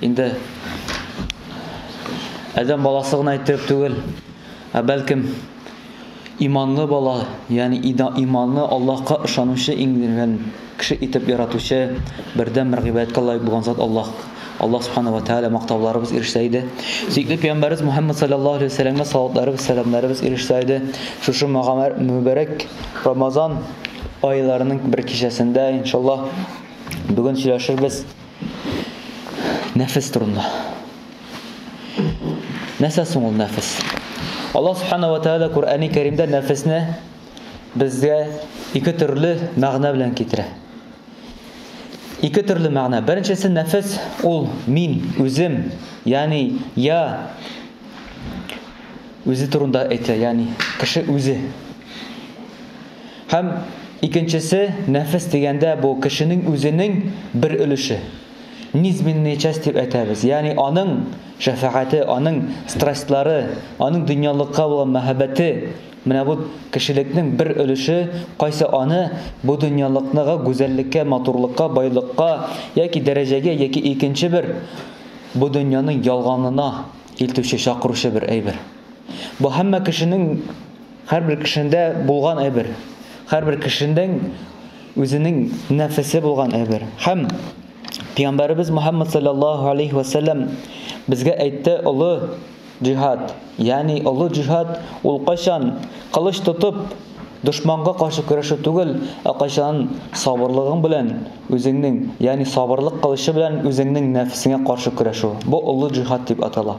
инде адәм баласы гына итеп түгел, ә бәлкем иманлы бала, ягъни иманлы Аллаһка ышанучы иңдергән кеше итеп яратучы бердәм бер гыйбадәткә лаек булган зат Аллаһ. Аллаһ субхана ва тааля мактауларыбыз ирешсә иде. Сөекле пәйгамбәрбез Мухаммад саллаллаһу алейхи ва сәлламгә салаватларыбыз, сәламнәребез ирешсә иде. Шушы мөбәрәк Рамазан айларының бер кичәсендә иншаллаһ бүген сөйләшербез. Нәфес турында. Нәрсә соң ул нәфес? Аллаһ Субхану ва Тааля Куръәни Кәримдә нәфесне безгә ике төрле мәгънә белән китерә. Ике төрле мәгънә. Беренчесе нәфес ул мин, үзем, ягъни я үзе турында әйтә, ягъни кеше үзе. Һәм, икенчесе, нәфес дигәндә, бу, кешенең үзенең бер өлеше. Низменная часть дип әйтәбез. Ягъни аның шәфәгате, аның страстьлары, аның дөньялыкка булган мәхәббәте, менә бу кешелекнең бер өлеше, кайсы аны бу дөньялыкныгы гүзәллеккә, матурлыкка, байлыкка яки дәрәҗәгә яки икенче бер бу дөньяның ялганына илтүче, чакыручы бер әйбер. Бу һәммә кешенең. Һәрбер кешендә булган әйбер. Һәрбер кешенең үзенең нәфесе булган әйбер. Һәм Пәйгамбәребез Мөхәммәд саллаллаһу алейһи ва сәлләм безгә әйтте, олы җиһад, ягъни олы җиһад ул кайчан кылыч тотып дошманга каршы көрәшү түгел, ә кайчан сабырлыгың белән үзеңнең, ягъни сабырлык кылычы белән үзеңнең нәфесеңә каршы көрәшү. Бу олы җиһад дип атала.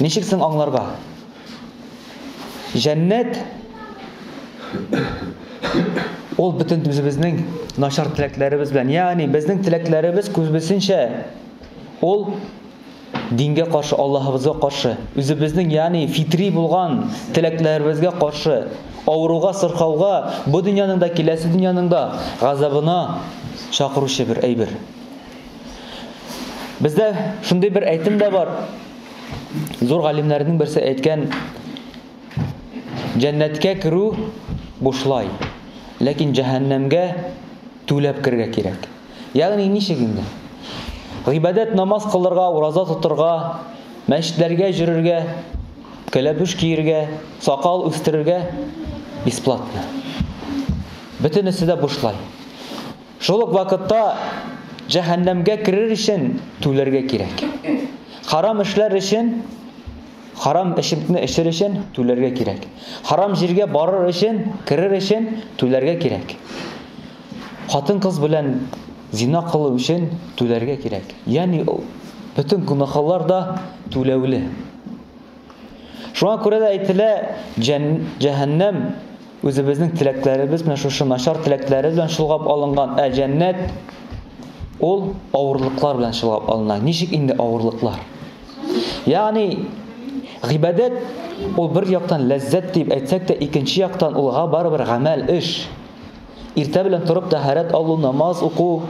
Ничек соң аңларга? Җәннәт ул бөтен үзебезнең начар теләкләребез белән, ягъни безнең теләкләребез күбесенчә ул дингә каршы, Аллаһыбызга каршы, үзебезнең ягъни фитри булган теләкләребезгә каршы, авыруга, сырхауга, бу дөньяның да, киләсе дөньяның да газабына чакыручы бер әйбер. Бездә шундый бер әйтем дә бар. Зур галимнәрнең берсе әйткән, Җәннәткә керү бушлай, ләкин җәһәннәмгә түләп кергә кирәк. Ягъни ничек инде? Гыйбадәт намаз кылырга, ураза тотырга, мәчетләргә җөрергә, кәләпүш киергә, сакал үстерергә бесплатно. Бөтенесе дә бушлай. Шул ук вакытта җәһәннәмгә керер өчен түләргә кирәк. Харам эшләр өчен, харам эчемтне эчер өчен түләргә кирәк. Харам җиргә барыр өчен, керер өчен түләргә кирәк. Хатын-кыз белән зина кылу өчен түләргә кирәк. Ягъни бөтен гөнаһлар да түләүле. Шуңа күрә дә әйтелә, җәһәннәм үзебезнең теләкләребез белән, шушы начар теләкләре белән чолгап алынган, ә җәннәт ул авырлыклар белән чолгап алына. Ничек инде авырлыклар? Ягъни гыйбадәт ул бер яктан ләззәт дип әйтсәк тә, икенче яктан улга барыбер гамәл, эш. Иртә белән торып тәһарәт алу, намаз уку,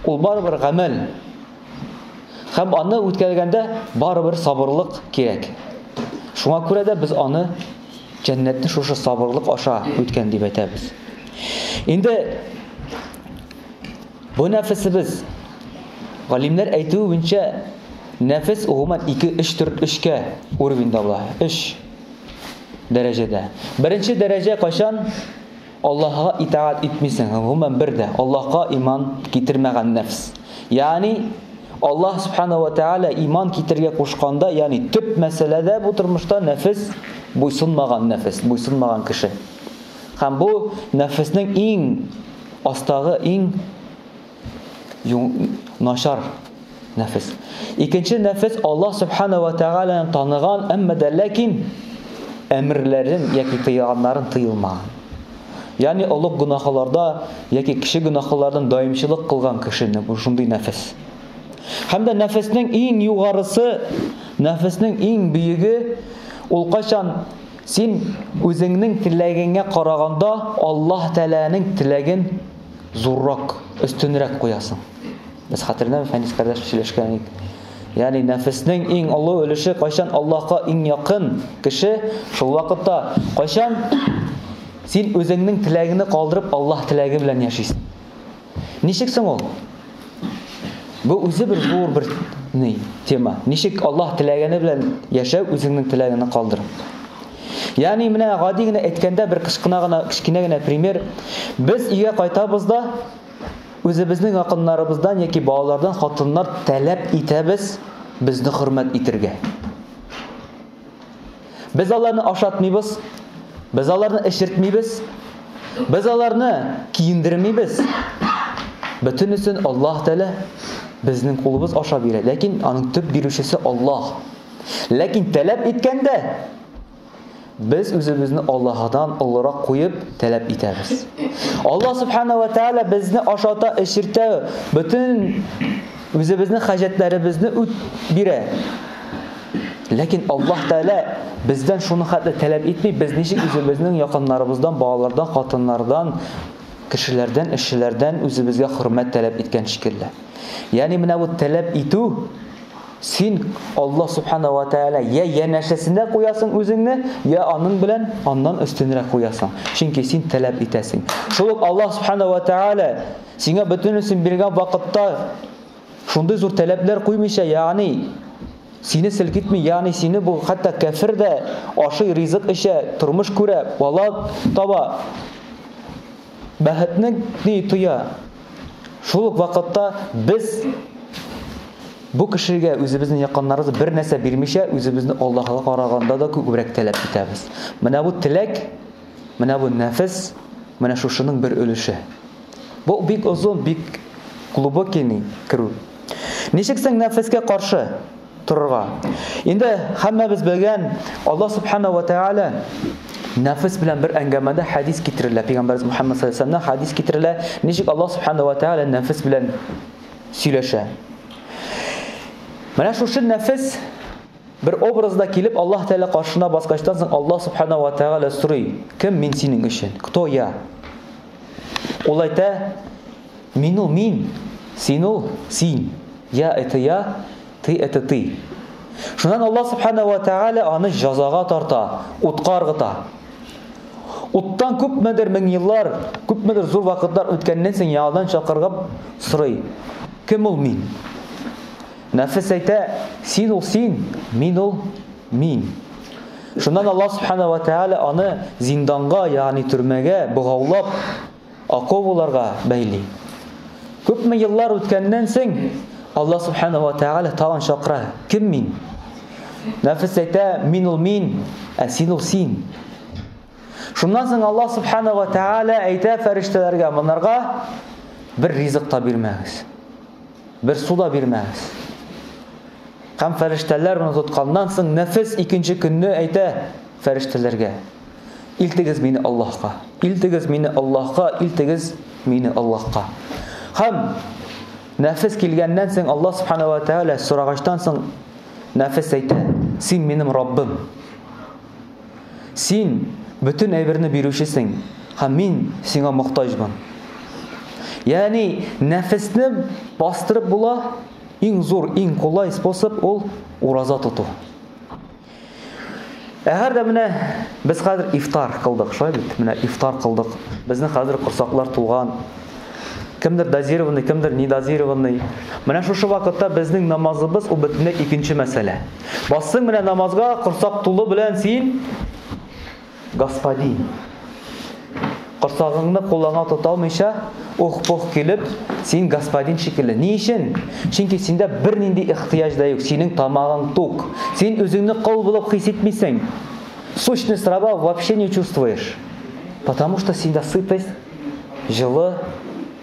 ул барыбер гамәл. Һәм аны үткәргәндә барыбер сабырлык кирәк. Шуңа күрә дә без аны җәннәтне шушы сабырлык аша үткән дип әйтәбез. Инде бу нәфесебез галимнәр әйтүе буенча нәфес гомумән 2-3 төр 3кә уровеньда була. 3 дәрәҗәдә. Беренче дәрәҗә кайчан? Аллаһыга итаать итмисең һәм, гомумән, бер дә Аллаһка иман китермәгән нәфс. Ягъни, Аллаһ Субханаһу ва Тәгалә иман китерергә кушканда, ягъни төп мәсьәләдә бу тормышта нәфес буйсынмаган нәфес, буйсынмаган кеше. Һәм бу нәфеснең иң астагы, иң. начар нәфес. Икенче нәфес Аллаһ Субхана ва Тәгаләне таныган, әмма дә ләкин әмерләрен яки тыйганнарын тыйылмаган. Ягъни олуг гөнаһларда яки кеше гөнаһлардан даимчылык кылган кешене бу шундый нәфес. Һәм дә нәфеснең иң югарысы, нәфеснең иң биеге ул качан син үзеңнең теләгеңә караганда Аллаһ Тәгаләнең теләген зуррак, өстенрәк куясың. Без хәтерләмә Фәнис кардәш сөйләшкән ик. Ягъни нәфеснең иң олы өлеше кайчан Аллаһка иң якын кеше, шул вакытта кайчан син үзеңнең теләгеңне калдырып Аллаһ теләге белән яшисең. Ничек соң ул? Бу үзе бер зур бер ни тема. Ничек Аллаһ теләгәне белән яшәү үзеңнең теләгеңне калдырып. Ягъни менә гади генә әйткәндә бер кычкына гына кечкенә генә пример. Без өйгә кайтабыз да үзебезнең якыннарыбыздан яки балалардан хатыннар таләп итәбез безне хөрмәт итергә. Без аларны ашатмыйбыз, без аларны эчертмибез, без аларны киендермибез. Бөтенесен Аллаһ Тәгалә безнең кулыбыз аша бирә, ләкин аның төп бирүчесе Аллаһ. Ләкин таләп иткәндә без үзебезне Аллаһдан олырак куеп таләп итәбез. Аллаһ Субхана ва Тәгалә безне ашата, эчертә, бөтен үзебезнең хаҗәтләребезне үт бирә. Ләкин Аллаһ Тәгалә бездән шуны хәтле таләп итми, без ничек үзебезнең якыннарыбыздан, балалардан, хатыннардан, кешеләрдән, эшчеләрдән үзебезгә хөрмәт таләп иткән шикелле. Ягъни менә бу таләп итү син Аллаһ Субхана ва Тәгалә я янәшәсендә куясың үзеңне, я аның белән аннан өстенрәк куясың. Чөнки син таләп итәсең. Шул ук Аллаһ Субхана ва Тәгалә сиңа бөтенесен биргән вакытта Шундый зур тәләпләр куймыйча, ягъни сине селкетми, ягъни сине бу хәтта кәфер дә ашый, ризык эчә, тормыш күрә, бала таба, бәхетне ни тоя. Шул ук вакытта без бу кешегә үзебезнең якыннарыбыз бер нәрсә бирмичә, үзебезне Аллаһыга караганда да күбрәк тәләп итәбез. Менә бу теләк Менә бу нәфес, менә шушының бер өлеше. Бу бик озын, бик глубокий ни керү. Ничек соң нәфескә каршы торырга? Инде һәммәбез белгән Аллаһ Субхана ва Тәгалә нәфес белән бер әңгәмәдә хәдис китерелә. Пәйгамбәрбез Мухаммад саллаллаһу алейһи хәдис китерелә. Ничек Аллаһ Субхана ва Тәгалә нәфес белән сөйләшә? Менә шушы нәфес Бер образда килеп Аллаһ Тәгалә каршына баскачтан соң Аллаһ Субхана ва Тәгалә сорый, Кем мин синең өчен? Кто я? Ул әйтә, Мин ул мин, син ул син, я это я, ты это ты. Шуннан Аллаһ Субхана ва Тәгалә аны җазага тарта, утка ыргыта. Уттан күпмедер мең еллар, күпмедер зур вакытлар үткәннән соң яңадан чакырып сорый, Кем ул мин? Нәфес әйтә, Син ул син, мин ул мин. Шуннан Аллаһ Субхана ва Тәгалә аны зинданга, ягъни төрмәгә богаулап, оковыларга бәйли. Күпме еллар үткәннән соң Аллаһ Субхана ва Тәгалә тагын чакыра, Кем мин? Нәфес әйтә, Мин ул мин, ә син ул син. Шуннан соң Аллаһ Субхана ва Тәгалә әйтә фәрештәләргә, монарга бер ризык та бирмәгез. Бер су да бирмәгез. Һәм фәрештәләр моны тотканнан соң нәфес икенче көнне әйтә фәрештәләргә, илтегез мине Аллаһка, илтегез мине Аллаһка, илтегез мине Аллаһка. Һәм нәфес килгәннән соң Аллаһ Субхана ва Тәгалә сорагачтан соң нәфес әйтә, син минем Раббым. Син бөтен әйберне бирүчесең, һәм мин сиңа мохтаҗбын. Ягъни, нәфесне бастырып була, иң зур, иң кулай способ ул ураза тоту. Әгәр дә менә без хәзер ифтар кылдык, шулай бит? Менә ифтар кылдык. Безнең хәзер корсаклар тулган. Кемдер дозированный, кемдер недозированный. Менә шушы вакытта безнең намазыбыз ул бөтенләй икенче мәсьәлә. Бассың менә намазга, корсак тулы белән син господин. Корсагыңны куллана тота алмыйча, ух-пух килеп, син господин шикелле. Ни өчен? Чөнки синдә бернинди ихтыяҗ да юк, синең тамагың тук. Син үзеңне кол булып хис итмисең. Сущность раба вообще не чувствуешь. Потому что синдә сытость, җылы,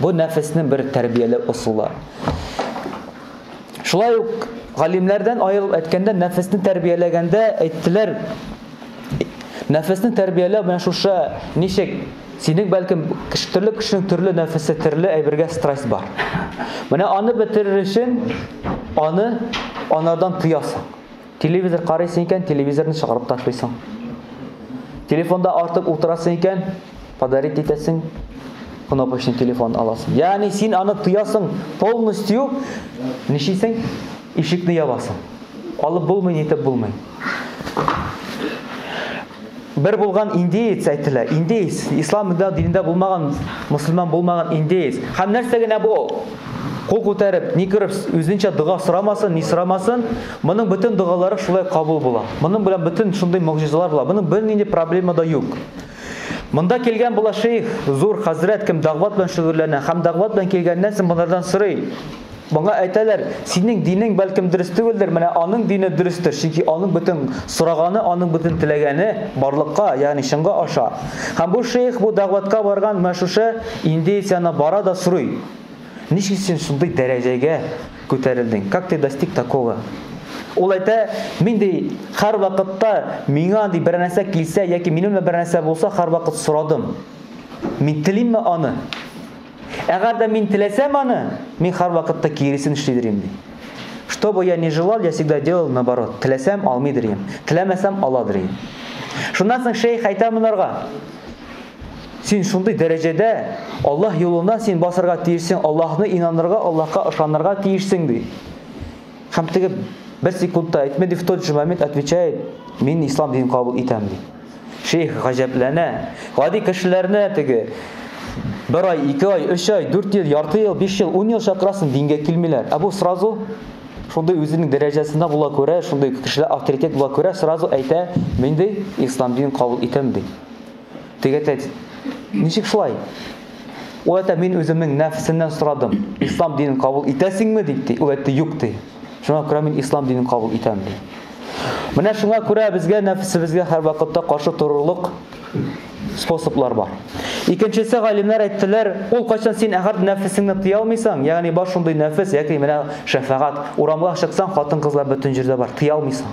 Бу нәфеснең бер тәрбияләү ысулы. Шулай ук галимнәрдән аерылып әйткәндә, нәфесне тәрбияләгәндә әйттеләр, нәфесне тәрбияләү менә шушы ничек Синең бәлкем кеше төрле кешенең төрле нәфесе, төрле әйбергә страсть бар. Менә аны бетерер өчен аны анардан тыясың. Телевизор карыйсың икән, телевизорны чыгарып ташлыйсың. Телефонда артык утырасың икән, подарить итәсең, кнопочный телефон аласың. Ягъни син аны тоясың, полностью ничисең? Ишекне ябасың. Алып булмый, нитеп булмый. Бер булган индеец әйтелә. Индеец, ислам дә динендә булмаган, мөселман булмаган индеец. Һәм нәрсә генә бу ул? Кул күтәреп, ни күреп, үзенчә дога сорамасын, ни сорамасын, моның бөтен догалары шулай кабул була. Моның белән бөтен шундый могҗизалар була. Моның бернинди проблема да юк. Монда килгән була шейх, зур хәзрәт, кем дәгъват белән шөгыльләнә, һәм дәгъват белән килгәннән соң монардан сорый, Моңа әйтәләр, Синең динең бәлкем дөрес түгелдер, менә аның дине дөрестер, чөнки аның бөтен сораганы, аның бөтен теләгәне барлыкка, ягъни чынга аша. Һәм бу шейх бу дәгъватка барган менә шушы индеец янына бара да сорый, Ничек син шундый дәрәҗәгә күтәрелдең? Как ты достиг такого? Ул әйтә, Мин, ди, һәрвакытта миңа, ди, бернәрсә килсә яки минем белән бернәрсә булса, һәрвакыт сорадым. Мин телимме аны? Әгәр дә мин теләсәм аны, мин һәрвакытта киресен эшлидер идем, ди. Что бы я ни желал, я всегда делал наоборот. Теләсәм, алмыйдыр идем. Теләмәсәм, аладыр идем. Шуннан соң шәйх әйтә монарга, Син шундый дәрәҗәдә Аллаһ юлына син басарга тиешсең, Аллаһны инанырга, Аллаһка ышанырга тиешсең, ди. Һәм теге бер секунд та әйтмәде, в тот же момент отвечает, мин ислам динен кабул итәм ди. Шейх гаҗәпләнә. Гади кешеләрне теге бер ай, ике ай, өч ай, дүрт ел, ярты ел, биш ел, ун ел чакырасын дингә килмиләр. Ә бу сразу шундый үзенең дәрәҗәсендә була күрә, шундый кешеләр авторитет була күрә, сразу әйтә, мин ди ислам динен кабул итәм ди. Теге әтәч, Ничек шулай? Ул әтә мин үземнең нәфсеннән сорадым. Ислам динен кабул итәсеңме дип ди. Ул әйтте, юк ди. Шуңа күрә мин ислам динен кабул итәм ди. Менә шуңа күрә безгә нәфсебезгә һәрвакытта каршы торырлык способлар бар. Икенчесе галимнәр әйттеләр, ул кайчан син әгәр нәфесеңне тыя алмыйсаң, ягъни бар шундый нәфес, яки менә шәфәгать, урамга чыксаң, хатын-кызлар бөтен җирдә бар, тыя алмыйсаң.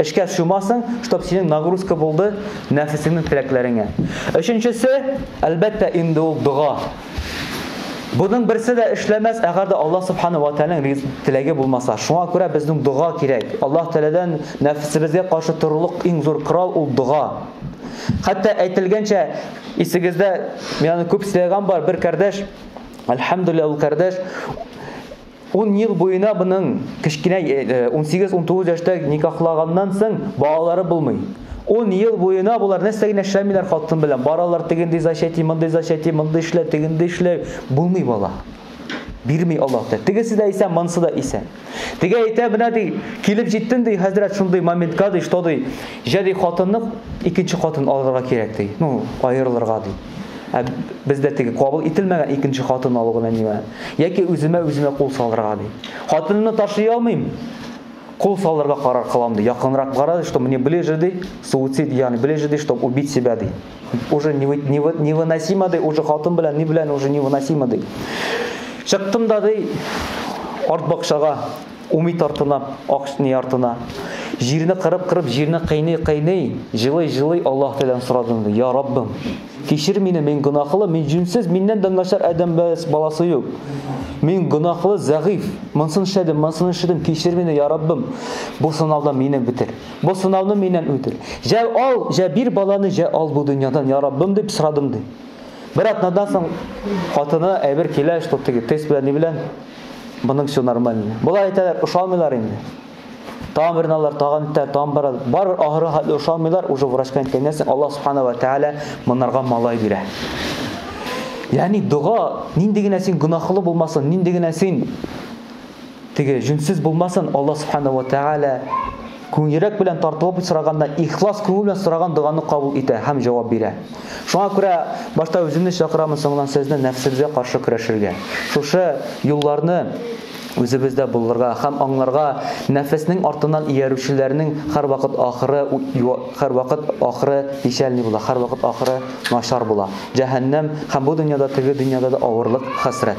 Эшкә чумасың, чтоб синең нагрузка булды нәфесеңнең теләкләреңә. Өченчесе, әлбәттә инде ул дога. Буның берсе дә эшләмәс, әгәр дә Аллаһ Субхана уа Тәгаләнең теләге булмаса. Шуңа күрә безнең дога кирәк. Аллаһ Тәгаләдән нәфесебезгә каршы торырлык иң зур корал ул дога. Хәтта әйтелгәнчә, исегездә, мин аны күп сөйләгән бар, бер кардәш, әлхәмдүлилләһ ул кардәш, Ун ел буена моның кечкенә унсигез-унтугыз яшьтә никахлаганнан соң балалары булмый. Ун ел буена болар нәрсә генә эшләмиләр хатын белән, баралар тегенди зачәти, мондый зачәти, мондый эшлә, тегенди эшлә, булмый бала. Бирми Аллаһ Тәгалә. Тегесе дә исән, монысы да исән. Теге әйтә, менә ди, килеп җиттем ди, хәзрәт шундый моментка ди, что ди, җә ди хатынны икенче хатын алырга кирәк ди. Ну, аерылырга ди. Ә бездә теге кабул ителмәгән икенче хатын алу гына нимә? Яки үземә үземә кул салырга ди. Хатынымны ташлый алмыйм. Кул салырга карар кылам ди. Якынрак бара, что мне ближе ди, суицид ягъни ближе ди, чтобы убить себя ди. Уже невыносимо ди, уже хатын белән ни белән уже невыносимо ди. Чыктым да ди арт бакчага. Умит артына, ак не артына. Җирне кырып-кырып, җирне кыйный-кыйный, җылый-җылый Аллаһ Тәгаләдән сорадым, Я Раббым, кичер мине, мин гөнаһлы, мин җүнсез, миннән дә начар адәм баласы юк. Мин гөнаһлы, зәгыйф, монсын эшләдем, монсын эшләдем, кичер мине, Я Раббым. Бу сынаудан мине бетер. Бу сынауны миннән үтер. Җә ал, җә бир баланы, җә ал бу дөньядан, Я Раббым, дип сорадым, ди. Бер атнадан соң хатыны әйбер килә, что ты тест белән ни белән Моның все нормально. Болай әйтәләр, ошамыйлар инде. Тагын бер налар, тагын үтә, тагын бара. Бар ахыры хәтле ошамыйлар, уже врачка әйткәннән соң Аллаһ Субхана ва Тааля монарга малай бирә. Ягъни дога нинди генә син гөнаһлы булмасын, нинди генә син теге җүнсез булмасын, Аллаһ Субхана ва Тааля Көн йөрәк белән тартылып сораганда, ихлас күңел белән сораган доганы кабул итә һәм җавап бирә. Шуңа күрә башта үземне чакырамын, соңыннан сезне нәфсебезгә каршы көрәшергә. Шушы юлларны үзебездә булдырырга һәм аңларга, нәфеснең артыннан иярүчеләрнең һәрвакыт ахыры һәрвакыт ахыры печальный була, һәрвакыт ахыры начар була, җәһәннәм һәм бу дөньяда, теге дөньяда да авырлык, хәсрәт.